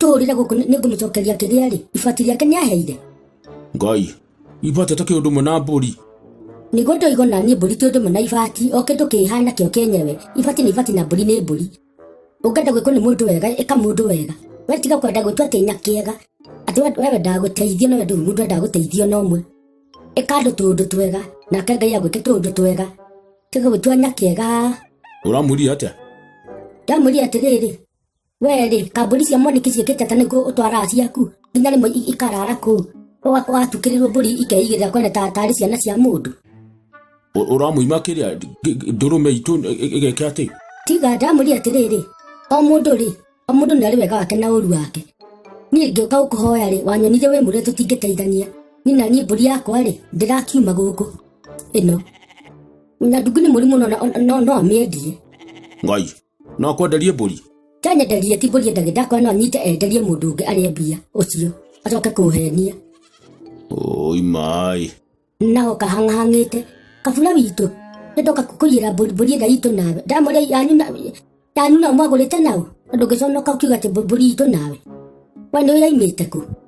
tũũrire gũkũ nĩ ngũmũcokeria kĩrĩa rĩ ibati rĩake nĩ aheire ngai ibate ta kĩũndũ mwe na mbũri nĩguo ndoigo na niĩ mbũri kĩũndũ mwe na ibati o kĩndũ kĩhana kĩo kĩenyewe ibati nĩ ibati na mbũri nĩ mbũri ũngenda gwĩkwo nĩ mũndũ wega ĩka mũndũ wega we tiga kwenda gwĩtwo atĩ ina kĩega atĩ we we wendaga gũteithio no ndũrĩ mũndũ wendaga gũteithio na ũmwe ĩka andũ tũũndũ twega nake ngai agwĩke tũũndũ twega tiga gwĩtua nyakĩega ũramwĩrire atĩa ndamwĩrire atĩrĩrĩ wee rĩ kambuni cia mwaniki ciĩkĩte atĩ nĩguo ũtwaraga ciaku nginya rĩmwe i- ikarara kũu Ũga- ũgatukĩrĩrwo mbũri ikeigĩrĩra kwene ta tarĩ ciana cia mũndũ Ũ- ũramũima kĩrĩa G- g- ndũrũme itũ ĩ- ĩ- ĩgeke atĩ tiga ndamũria atĩrĩrĩ o mũndũ rĩ o mũndũ nĩ arĩ wega wake na ũru wake niĩ ngĩũka gũkũhoya rĩ wanyonire wĩ mũrĩa tũtingĩteithania niĩ na niĩ mbũri yakwa rĩ ndĩrakiuma gũkũ ĩno na ndungu nĩ mũri mũno na- no no amĩendie ngai no kwenderie mbũri kyanyenderie ti mbũri endage ndakwa no nyite enderie mũndũ ũngĩ arĩa mbia ũcio acoke kũhenia oi maĩ nao kahang'ahang'ĩte kabura witũ nĩndoka kũiyĩra mbũri mbũri ĩrĩa itũ nawe ndamũrĩa yanyu na- yanyu nao mwagũrĩte nao na ndũngĩconoka ũkiuga atĩ mbũ- mbũri itũ nawe we nĩ ũyaimĩte kũ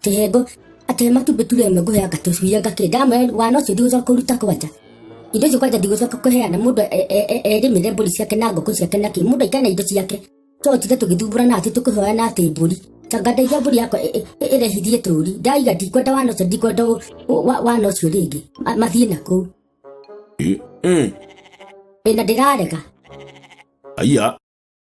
Kĩhengo atĩ matumbĩ ture ĩmwe ngũheanga tũcui ngakĩ ndamwe wana ũcio ndigũcoka kũruta kwanja indo icio kwanja ndigũcoka kũheana mũndũ e- e- e- erĩmĩre mbũri ciake na ngũkũ ciake na kĩ mũndũ aikare na indo ciake totinde tũgĩthumbũra na atĩ tũkĩhoya na atĩ mbũri tanga ndeithia mbũri yakwa ĩ- ĩ- ĩ- ĩrehithie tũri ndaiga ndikwenda wana ũcio ndikwenda ũ- ũ- wa- wana ũcio rĩngĩ Ma- mathiĩ na kũu Eh, eh, ĩna ndĩrarega aya